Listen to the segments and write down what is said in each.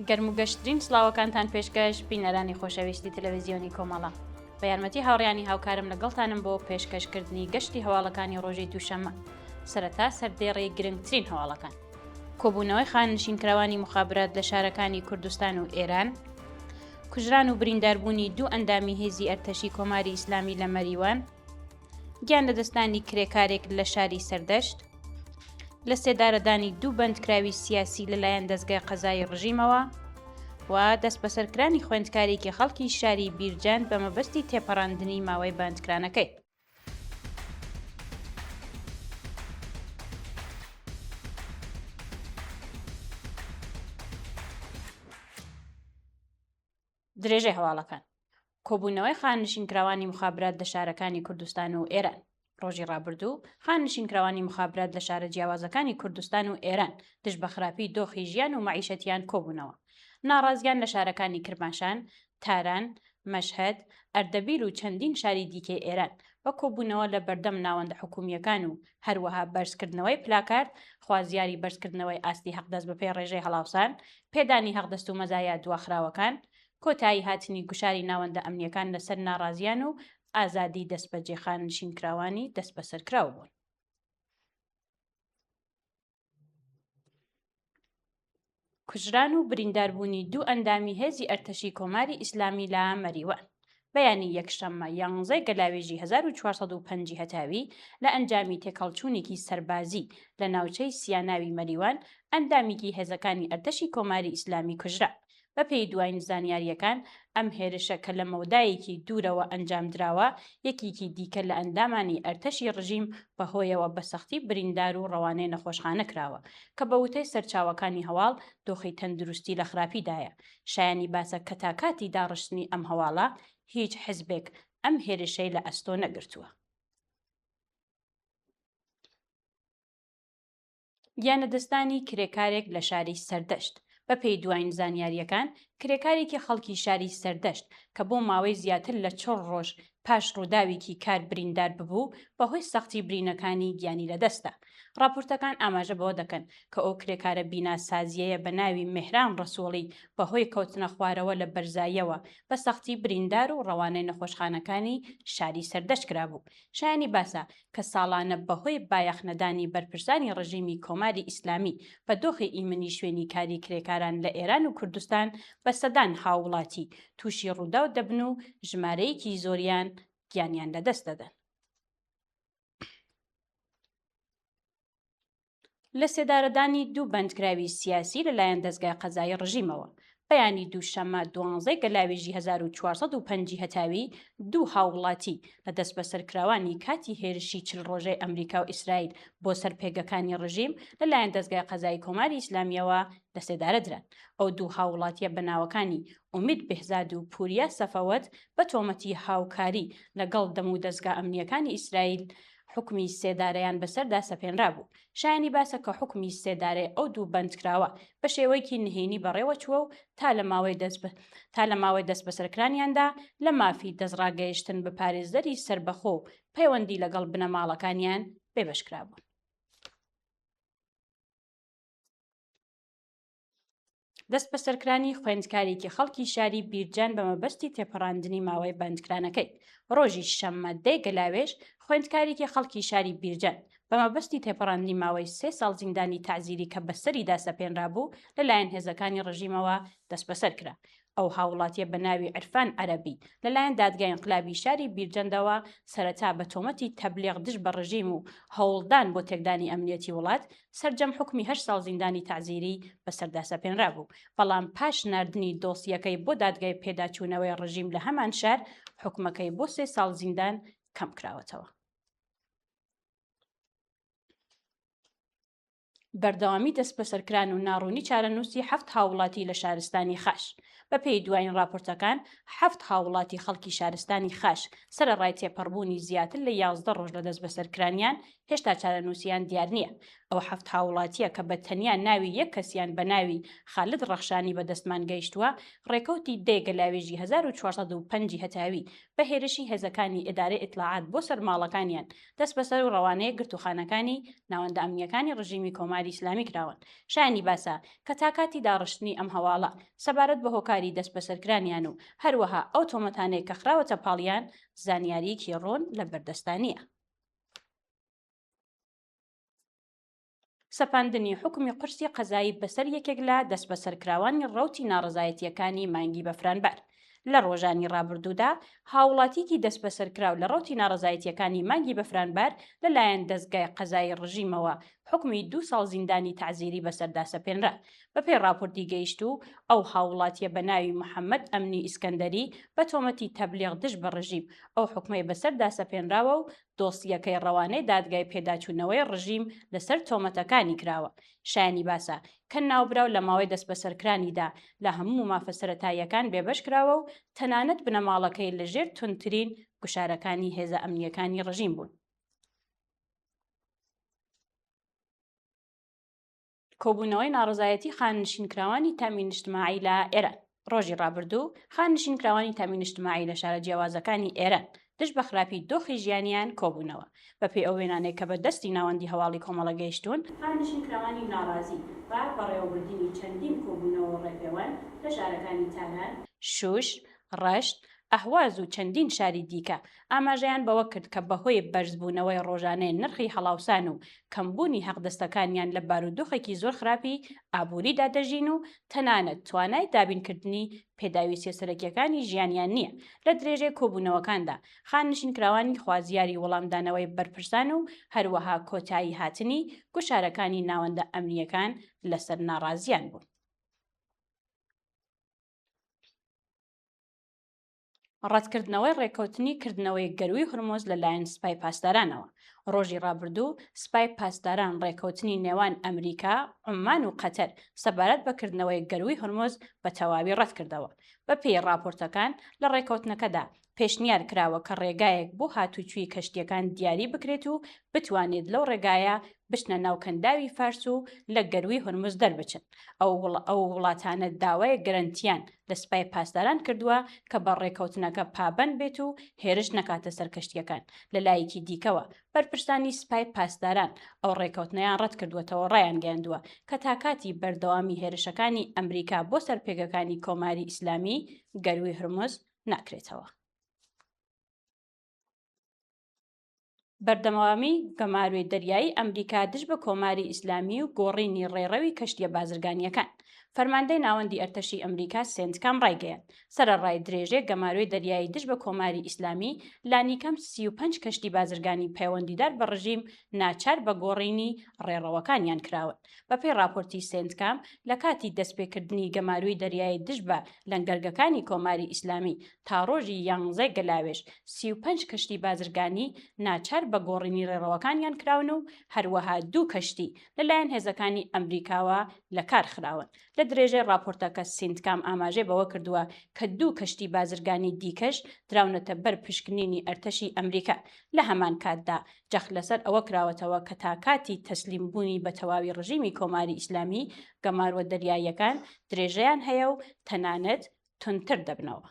گەرم و گەشترین سلااوەکانتان پێشکەش بینەرانی خۆشەویستی تەلەویزیۆنی کۆمەڵە بە یارمەتی هاوڕیانی هاوکارم لەگەڵتانم بۆ پێشکەشکردنی گەشتی هەواڵەکانی ڕۆژی دووشەمە سەرەتا سەردێڕی گرنگترین هەواڵەکان کۆبوونەوەی خانەنشینکراوانی موخابرات لە شارەکانی کوردستان و ئێران، کوژران و برینداربوونی دوو ئەندامی هێزی ئەرتەشی کۆماری ئیسلامی لە مەریوان، گیان لەدەستدانی کرێکارێک لە شاری سەردەشت، لە سێدارەدانی دوو بەندکراوی سیاسی لەلایەن دەزگای قەزایی ڕژیمەوە و دەستبەسەرکرانی خوێندکارێکی خەڵکی شاری بیرجەند بە مەبەستی تێپەڕاندنی ماوەی بەندکرانەکەی. درێژەی هەواڵەکان کۆبوونەوەی خانشینکراوانی مخابرات لە شارەکانی کوردستان و ئێران ڕۆژی ڕابردوو خانشینکراوانی مخابرات لە شارە جیاوازەکانی کوردستان و ئێران دژ بە خراپی دۆخی ژیان و معیشەتیان کۆبوونەوە ناڕازیان لە شارەکانی کرماشان تاران، مەشهەد، ئەردەبیل و چەندین شاری دیکەی ئێران، بە کۆبوونەوە لە بەردەم ناوەندە حکوومییەکان و هەروەها بەرزکردنەوەی پلاکارد، خوازیاری بەرزکردنەوەی ئاستی هەقدەست بەپێی ڕێژەی هەڵاوسان، پێدانی هەقدەست و مەزایا دواخراوەکان، کۆتایی هاتنی گوشاری ناوەندە ئەمنییەکان لەسەر ناڕازییان و ئازادی دەستبەجێ خاننشینکراوانی دەستبەسەرکراو بوون. کوژران و برینداربوونی دوو ئەندامی هێزی ئەرتەشی کۆماری ئیسلامی لە مەریوان بەیانی یەکشەممە یانزەی گەلاوێژی 1950 هەتاوی لە ئەنجامی تێکەڵچوونێکی سەربازی لە ناوچەی سیاناوی مەریوان ئەندامیکی هێزەکانی ئەرتەشی کۆماری ئیسلامی کوژرا بەپێی دواین زانیارییەکان، ئەم هێرشە کە لە مەودایەکی دوورەوە ئەنجامدراوە، یەکێکی دیکە لە ئەندامانی ئەرتەشی ڕژیم بەهۆیەوە بە سەختی بریندار و ڕەوانەی نەخۆشخانە کراوە، کە بە وتەی سەرچاوەکانی هەواڵ دۆخی تەندروستی لە خراپیدایە. شایانی باسە کە تا کاتی داڕشتنی ئەم هەواڵە هیچ حزبێک ئەم هێرشەی لە ئەستۆ نەگرتووە. گیانلەدەستدانی کرێکارێک لە شاری سەردەشت، بەپێی دوایین زانیارییەکان، کرێکارێکی خەڵکی شاری سەردەشت کە بۆ ماوەی زیاتر لە چڵ رۆژ پاش رووداویکی کار بریندار ببوو، بەهۆی سەختی برینەکانی گیانی لەدەستدا. راپۆرتەکان ئاماژە بەوە دەکەن کە ئەو کرێکارە بیناسازییەیە بە ناوی مێهران رەسوڵی بەهۆی کەوتنەخوارەوە لە بەرزاییەوە بە سەختی بریندار و رەوانەی نەخۆشخانەکانی شاری سەردەشت کرابوو. شایانی باسە، کە ساڵانە بەهۆی بایەخ نەدانی بەرپرسانی ڕژیمی کۆماری ئیسلامی بە دۆخی ئیمنی شوێنی کاری کرێکاران لە ئێران و کوردستان بە سەدان هاووڵاتی تووشی ڕووداو دەبن و ژمارەیەکی زۆریان گیانیان لەدەست دەدەن. لەسێدارەدانی دوو بەندکراوی سیاسی لەلایەن دەزگای قەزایی ڕژیمەوە، بەیانی دووشەممە دوانزەی گەلاوێژی هەزار و چوار سەد و پەنج ی هەتاوی دوو هاووڵاتی لە دەستبەسەرکراوانی کاتی هێرشی چل ڕۆژەی ئەمریکا و ئیسرائیل بۆ سەر پێگەکانی ڕژیم لەلایەن دەزگای قەزایی کۆماری ئیسلامییەوە لەسێدارە دران. ئەو دوو هاووڵاتییە بە ناوەکانی ئومید بێهزاد و پوریا سەفەوەت بە تۆمەتی هاوکاری لەگەڵ دەم و دەزگا ئەمنییەکانی ئیسرائیل حوکمی سێدارەیان بەسەردا سەپێنرابوو. شایانی باسە کە حوکمی سێدارەی ئەو دوو بەندکراوە بە شێوەیەکی نهێنی بەڕێوەچووە و تا لە ماوەی دەست تا لە ماوەی دەستبەسەرکرانیاندا لە مافی دەستڕاگەیشتن بە پارێزەری سەربەخۆ و پەیوەندی لەگەڵ بنەماڵەکانیان بێبەشکرابوون. دەستبەسەرکرانی خوێندکارێکی خەڵکی شاری بیرجان بە مەبەستی تێپەڕاندنی ماوەی بەندکرانەکەی ڕۆژی شەممە دەی گەلاوێژ خوێندکارێکی خەڵکی شاری بیرجان بە مەبەستی تێپەڕاندنی ماوەی سێ ساڵ زیندانی تەعزیری کە بەسەریدا سەپێنرابوو لەلایەن هێزەکانی ڕژیمەوە دەستبەسەر کرا ئەو هاووڵاتییە بە ناوی عیرفان عەرەبی، لەلایەن دادگای ئینقلابی شاری بیرجەندەوە سەرەتا بە تۆمەتی تەبلیغ دژ بە ڕژیم و هەوڵدان بۆ تێکدانی ئەمنییەتی وڵات، سەرجەم حوکمی هەشت ساڵ زیندانی تەعزیریی بەسەردا سەپێنرابوو، بەڵام پاش ناردنی دۆسییەکەی بۆ دادگای پێداچوونەوەی ڕژیم لە هەمان شار، حوکمەکەی بۆ سێ ساڵ زیندان کەمکراوەتەوە. بەردەوامی دەستبەسەرکران و ناڕوونی چارەنووسی حەفت هاوڵاتی لە شارستانی خاش بە پێی دوایین ڕاپۆرتەکان حەفت هاوڵاتی خەڵکی شارستانی خاش سەرەڕای تێپەڕبوونی زیاتر لە یازدە ڕۆژ لە دەستبەسەرکرانیان هێشتا چارەنووسیان دیار نییە ئەو حەفت هاوڵاتیە کە بە تەنیا ناوی یەک کەسیان بە ناوی خالد ڕەخشانی بەدەستمان گەیشتووە ڕێکەوتی دەی گەلاوێژی 1405 هەتاوی بە هێرشی هێزەکانی ئێدارەی ئیتلاعات بۆ سەر ماڵەکانیان دەسبەسەر و ڕەوانەی گرتووخانەکانی ناوەندە ئەمنییەکانی ڕژیمی کۆماری ئیسلامی کراون. شایانی باسە کە تا کاتی داڕشتنی ئەم هەواڵە سەبارەت بە هۆکاری دەسبەسەرکرانیان و هەروەها ئەو تۆمەتانەی کە خراوەتە پاڵیان زانیارییەکی ڕوون لە بەردەستدا نییە. سەپاندنی حوکمی قورسی قەزایی بەسەر یەکێک لە دەستبەسەرکراوانی ڕەوتی ناڕەزایەتییەکانی مانگی بەفرانبار. لە ڕۆژانی ڕابردوودا هاووڵاتییەکی دەستبەسەرکراو لە ڕەوتی ناڕەزایەتییەکانی مانگی بەفرانبار لەلایەن دەزگای قەزایی ڕژیمەوە حوکمی دوو ساڵ زیندانی تەعزیری بەسەردا سەپێنرا. بەپێی ڕاپۆرتی گەیشتوو، ئەو هاووڵاتییە بە ناوی محەممەد ئەمنی ئیسکەندەری بە تۆمەتی تەبلیغ دژ بە ڕژیم ئەو حوکمەی بەسەردا سەپێنراوە و دۆسییەکەی ڕەوانەی دادگای پێداچوونەوەی ڕژیم لەسەر تۆمەتەکانی کراوە. شایانی باسە، کە ناوبراو لە ماوەی دەستبەسەرکرانیدا لە هەموو مافە سەرەتاییەکان بێبەش کراوە و تەنانەت بنەماڵەکەی لە ژێر توندترین گوشارەکانی هێزە ئەمنییەکانی ڕژیم بوون. کۆبوونەوەی ناڕزایەتی خاننشینکراوانی تامی نیشتماعی لە ئێران ڕۆژی ڕابردوو خاننشینکراوانی تامی نیشتماعی لە شارە جیاوازەکانی ئێران دژ بە خراپی دۆخی ژیانیان کۆبوونەوە بەپێی ئەو وێنانەی کە بە دەستی ناوەندی هەواڵی کۆمەڵە گەیشتوون خاننشینکراوانی ناڕازی بە بەڕێوەبردنی چەندین کۆبوونەوە و ڕێپێوان لە شارەکانی تاران، شووش، ڕەشت، ئەهواز و چەندین شاری دیکە ئاماژەیان بەوە کرد کە بەهۆی بەرزبوونەوەی ڕۆژانەی نرخی هەڵاوسان و کەمبوونی هەقدەستەکانیان لە بارودۆخێکی زۆر خراپی ئابووریدا دەژین و تەنانەت توانای دابینکردنی پێداویستیە سەرەکیەکانی ژیانیان نییە لە درێژەی کۆبوونەوەکاندا خاننشینکراوانی خوازیاری وەڵامدانەوەی بەرپرسان و هەروەها کۆتایی هاتنی گوشارەکانی ناوەندە ئەمنیەکان لەسەر ناڕازیان بوون. ڕەتکردنەوەی ڕێککەوتنی کردنەوەی گەروی هرمۆز لەلایەن سپای پاسدارانەوە ڕۆژی ڕابردوو سپای پاسداران ڕێککەوتنی نێوان ئەمریکا عمان و قەتەر سەبارەت بەکردنەوەی گەروی هرمۆز بە تەواوی ڕەتکردەوە بە پێی ڕاپۆرتەکان لە ڕێککەوتنەکەدا پێشنیار کراوە کە ڕێگایەک بۆ هاتوچوی کەشتیەکان دیاری بکرێت و بتوانێت لەو ڕێگایە بچنە ناو کەنداوی فارس و لە گەروی هرمز دەربچن ئەو وڵاتانە داوای گەرنتیان لە سپای پاسداران کردووە کە بە ڕێکەوتنەکە پابەند بێت و هێرش نەکاتە سەر کەشتییەکان، لەلایەکی دیکەوە، بەرپرسانی سپای پاسداران ئەو ڕێکەوتنەیان ڕەتکردووەتەوە ڕایانگەیاندووە کە تا کاتی بەردەوامی هێرشەکانی ئەمریکا بۆ سەر پێگەکانی کۆماری ئیسلامی، گەرووی هورمز ناکرێتەوە. بەردەمەوامی گەماروی دەریایی ئەمریکا دژ بە کۆماری ئیسلامی و گۆڕینی ڕێڕەوی کەشتیە بازرگانیەکان فەرماندەی ناوەندی ئەرتەشی ئەمریکا سنتکام ڕایگەیان سەرەڕای درێژێ گەماروی دەریایی دژ بە کۆماری ئیسلامی لانیکەم 35 کەشتی بازرگانی پەیوەندیدار بە ڕژیم ناچار بە گۆڕینی ڕێڕەوەکانیان کراون بەپێی ڕاپۆرتی سێنتکام، لە کاتی دەستپێکردنی گەماروی دەریایی دژ بە لەنگەرگەکانی کۆماری ئیسلامی تا ڕۆژی یانزەی گەلاوێژ، سی و پەنج کەشتی بازرگانی ناچار بە گۆڕینی ڕێڕەوەکانیان کراون و هەروەها دوو کەشتی لەلایەن هێزەکانی ئەمریکاوە لەکارخراون. لە درێژەی ڕاپۆرتەکە سینتکام ئاماژەی بەوە کردووە کە دوو کەشتی بازرگانی دیکەش دراونەتە بەر پشکنینی ئەرتەشی ئەمریکا، لە هەمان کاتدا جەخت لەسەر ئەوە کراوەتەوە کە تا کاتی تەسلیم بوونی بە تەواوی ڕژیمی کۆماری ئیسلامی، گەماروە دەریاییەکان درێژەیان هەیە و تەنانەت توندتر دەبنەوە.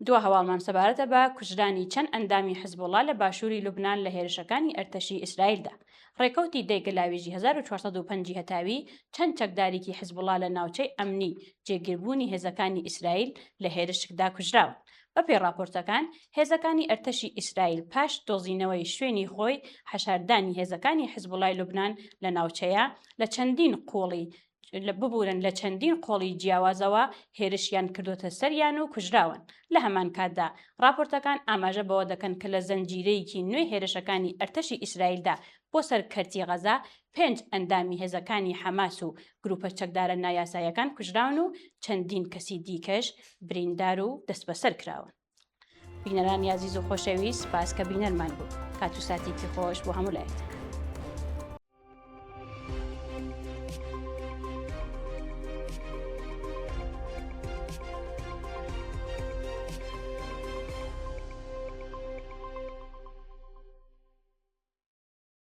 دوا هەواڵمان سەبارەتە بە کوژرانی چەند ئەندامی حزبوڵا لە باشووری لوبناان لە هێرشەکانی ئەرتەشی ئیسرائیلدا ڕێکەوتی دەیگە لاوێژی 1950 هەتاوی چەند چەکدارێکی حزبوڵا لە ناوچەی ئەمنی جێگیربوونی هێزەکانی ئیسرائیل لە هێرشکدا کوژراون بەپێی ڕاپۆرتەکان، هێزەکانی ئەرتەشی ئیسرائیل پاش دۆزینەوەی شوێنی خۆی، حەشاردانی هێزەکانی حزبوڵای لوبنان لە ناوچەیە، لە چەندین قۆڵی ببورن لە چەندین قۆڵی جیاوازەوە هێرشیان کردووەتە سەریان و کوژراون. لە هەمان کاتدا، ڕاپۆرتەکان ئاماژە بەوە دەکەن کە لە زنجیرەیەکی نوێی هێرشەکانی ئەرتەشی ئیسرائیلدا بۆ سەر کەرتی غەزە، پێنج ئەندامی هێزەکانی حەماس و گروپە چەکدارە نایاساییەکان کوژراون و چەندین کەسی دیکەش بریندار و دەستبەسەر کراون. بینەرانی ئازیز و خۆشەویست سپاس کە بینەرمان بوو کات و ساتێکی خۆش بۆ هەموو لایەک.